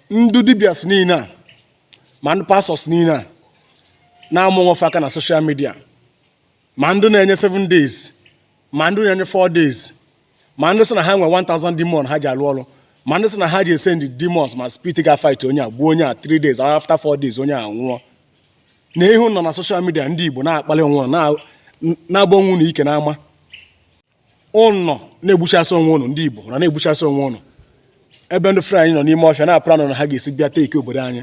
ndị dibias niile a ma ndị pastọs niile a na-ama onwe fa aka na soshal midia ma ndị na-enye 7 days ma ndị na-enye 4 days ma ndị sị na ha nwe 1000 demon ha ji alụ ọrụ ma ndị sị na ha ji esendi demons ma spirit ga fight onye a gbuo onye a 3 days after 4 days onye a nwụọ na ihe ụnụ nọ na soshal midia ndị Igbo na-akpali onwe ụnụ na-agba onwe ụnụ ike n'ama ụnụ na-egbuchasị onwe ụnụ ndị Igbo ụnụ na-egbuchasị onwe ụnụ ebe ndị Fulani nọ n'ime ọfịa na-aplanụ na ha ga-esi bịa teki obodo anyị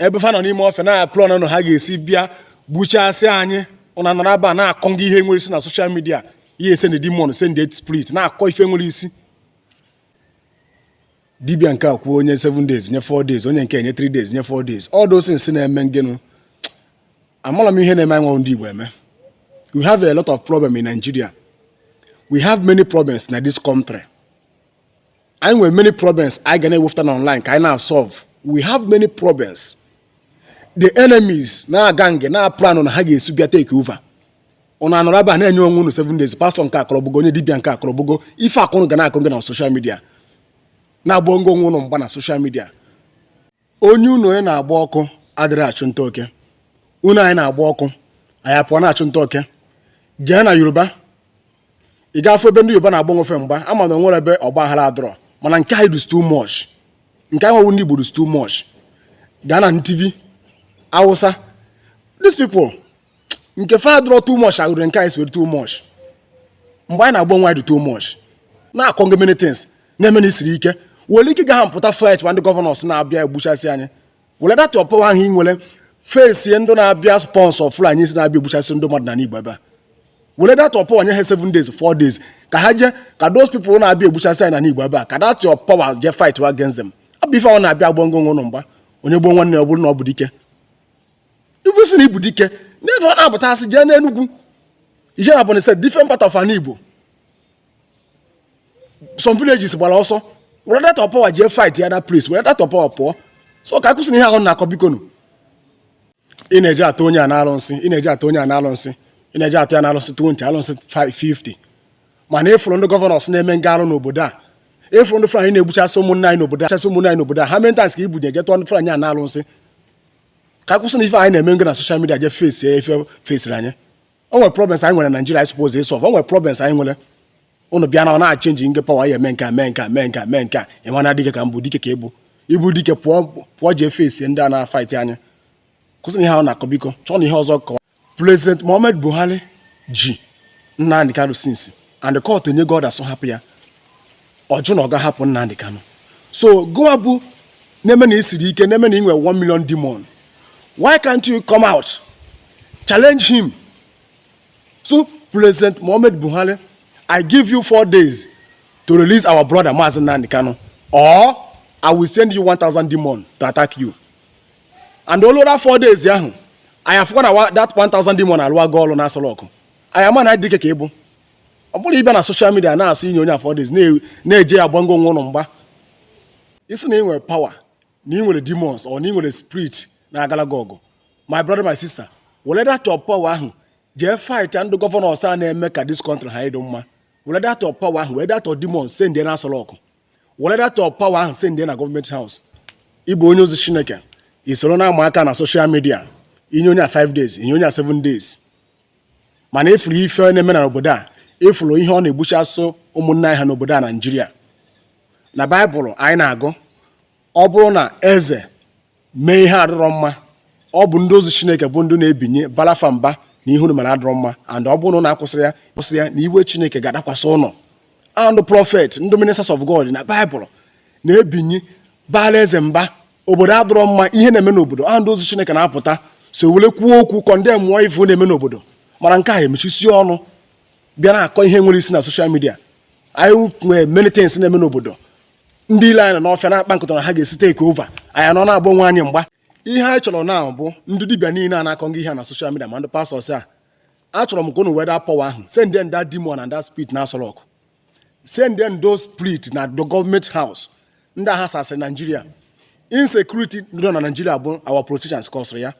ebe fa nọ n'ime ọfịa na-aplanụ na ha ga-esi bịa gbuchasị anyị ụnụ anọrọ ebe a na-akọ ngị ihe enwerọ isi na soshal midia ihe esendi demon send spirit na-akọ ife enwerọ isi dibia nke a kwuo o nye 7 days nye 4 days onye nke a nye 3 days nye 4 days all those things na-eme gịnị amala m ihe na-eme anyị nwa ndị Igbo eme we have a lot of problem in Nigeria we have many problems na this country anyị nwere many problems anyị ga na-ewepụta na online ka anyị na-asolve we have many problems the enemies na-aga nge na-aplanụ na ha ga-esi bịa take over ụnụ anọrọ ebe a na-enye onwe unu seven days pastọ nke a kọọ o gbugo onye dibia nke a kọọ o gbugo ife a ka ụnụ ga na-akọ nge na soshal midia na-agba ngo onwe ụnụ mgba na soshal midia onye ụnọ ya na-agba ọkụ adịrọ achụ nta oke ụnọ anyị na-agba ọkụ anyị apụọ na-achụ nta oke jee na yoruba ị ga-afụ ebe ndị yoruba na-agba onwe fa mgba ama m na onwerọ ebe ọgba aghara adịrọ mana nke anyị dịzi too much nke anyị nwa bụ ndị igbo dịzi too much gaa na Tiv awụsa these people nke fa adịrọ too much agụrụ nke anyị siri too much mgba anyị na-agba onwe anyị dị too much na-akọ nge many things na-eme na i siri ike were ike gị ahụ pụta fight ma ndị gọvanọs na-abịa egbuchasị anyị were that power ahụ ị nwere fesie ndị na-abịa sponsọ Fulanis na-abịa egbuchasị ndị mmadụ na n'igbo ebe a were that power nye ha 7 days 4 days ka ha jee ka those people na-abịa egbuchasị anyị na n'igbo ebe a ka that power jee fight against them ọ bụrọ ife ụnụ na-abịa agba ngo onwe ụnụ mgba onye gbuo nwanne ọ bụrụ na ọ bụ dike i kwu si na ị bụ dike n'ebe ọ na-abụta asị jee n'enugwu i jee n'Ebọnyị State different part of ana igbo some villages gbara ọsọ were that power jee fight ya na place were that power pụọ so ka a kwụsị na ihe ahụ na-akọ bikonu ị na-eje atụ onye a na alụsị ị na-eje atụ onye a na alụsị ị na-eje atụ ya na alụsị 20 alụsị 50 mana ị fụrụ ndị gọvanọs na-eme nga arụ n'obodo a ị fụrụ ndị Fulani na-egbuchasị ụmụnne anyị n'obodo a how many times ka i binye je tụọ ndị Fulani a na alụsị ka a kwụsị na ife anyị na-eme ngo na soshal midia je fesi ife fesiri anyị o nwere problems anyị nwere na Naịjirịa anyị suppose ịsolve o nwere problems anyị nwere ụnụ bịa na ọ na-achenji nge pawa ya eme nke a ị ma na dike ka m bụ dike ka ị bụ ị bụ dike pụọ jee fesi ndị a na-afaiti anyị kwụsị na ihe ahụ na-akọ biko chọọ na ihe ọzọ kọwa President Muhammad Buhari ji Nnamdi Kanu since and court enyego order sị ọ hapụ ya ọ jụ na ọ ga-ahapụ Nnamdi Kanu so gụwa bụ na-eme na i siri ike na-eme na i nwe 1 million demon why can't you come out challenge him so President Muhammad Buhari I give you four days to release our brother Mazi Nnamdi Kanu or I will send you 1000 demon to attack you and o lue that four days ahụ anyị afụkwa na that 1000 demon alụwago ọrụ na Aso Rock anyị ama na dike ka ị bụ ọ bụrọ ịbịa na social media na-asị i nye onye a four days na-eje agbangị onwe unu mgba ị sị na ị nwere power na ị nwere demons or na ị nwere spirit na-agala gị ọgụ my brother my sister were that your power ahụ jee fight ndị governors a na-eme ka this country ha ịdị mma were that your power ahụ were that your demons send na Aso Rock were that your power ahụ send na government house ị bụ onye ozi chineke i soro na-ama aka na social media i nye onye a 5 days i nye onye a 7 days mana ị fụrụ ife na-eme na obodo a ị fụrụ ihe ọ na-egbuchasị ụmụnne anyị ha n'obodo a Nigeria na Bible anyị na-agụ ọ bụrụ na eze mee ihe adịrọ mma ọ bụ ndị ozi chineke bụ ndị na-ebinye baala fa mba na ihe unu mere adịrọ mma and ọ bụrụ na a kwụsịrọ ya na iwe chineke ga-adakwasị unu and prophet ndị ministers of god na Bible na-ebinye baala eze mba obodo adịrọ mma ihe na-eme n'obodo ndị ozi chineke na-apụtasị were kwuo okwu condemnụọ ife na-eme n'obodo mana nke a emechisie ọnụ bịa na-akọ ihe enwerọ isi na social media anyị nwere many things na-eme n'obodo ndị ilo anyị nọ n'ọfịa na-akpa nkata na ha ga-esi take over anyị nọ na-agba onwe anyị mgba ihe anyị chọrọ now bụ ndị dibịa niile a na-akọ ngị ihe na social media ma ndị pastors a achọrọ m ka unu were that power ahụ send them that demon and that spirit na Aso Rock send them those spirit na the government house ndị a ghasasịrị Nigeria insecurity nọ na Nigeria bụ our politicians kọsịrị ya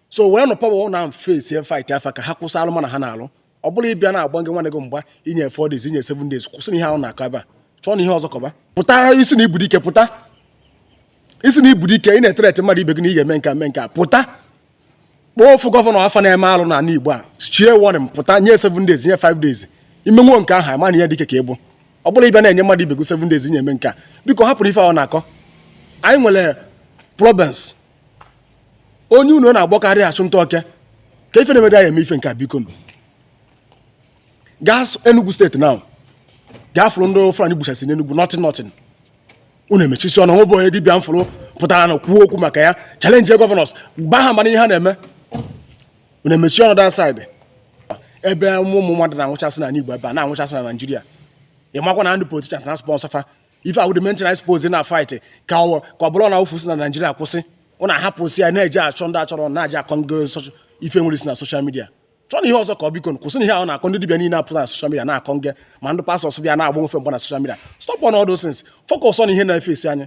so weenụ power unu face fightịa fa ka ha kwụsị alụma na ha na-alụ ọ bụrọ ịbịa na-agba gị nwanne gị mgba i nye four days i nye seven days kwụsịnụ ihe ahụ na-akọ ebe a chọọnụ ihe ọzọ kọba pụta ị sị na ị bụ dike pụta ị sị na ị bụ dike ị na-ethreatị mmadụ ibe gị na ị ga-eme nke eme nke a pụta kpọọ ofu governor afa na-eme alụ na ala Igbo a chie warning pụta nye seven days nye five days i menwuo nke ahụ ama na dike ka ị bụ ọ bụrọ ịbịa na-enye mmadụ ibe gị seven days na ị ya-eme nke a biko hapụnụ ife ahụ na-akọ anyị nwere problems onye ụnọ na-agba ọkụ arọ achụ nta oke ka ife na-emega ya eme ife nke a bikonụ gaa Enugu State now gaa fụrụ ndị Fulani gbuchasị n'Enugu nothing nothing unu emechisie ọnụ o nweberọ onye dibịa m fụrụ pụtaranụ kwuo okwu maka ya challenge governors baa ha mba na ihe ha na-eme unu emechi ọnụ that side ebe ụmụ mmadụ na-anwụchasị na Igbo ebe a na-anwụchasị na Nigeria ị makwa na ndị politicians na-asponsor fa ife awụ the main thing anyị suppose na fight ka ọ ka ọ bụrụ na ofu si na Nigeria kwụsị ụna ahapụsị ya na-eje achọ ndị achọrọ na-eje akọ ndị ife nwere isi na social media chọọ na ihe ọzọ ka ọ biko kwụsị na ihe ahụ na-akọ ndị dibịa niile apụta na social media na-akọ nge ma ndị pastors bịa na-agba nfe mgba na social media stop on all those things focus on ihe na-efe isi anyị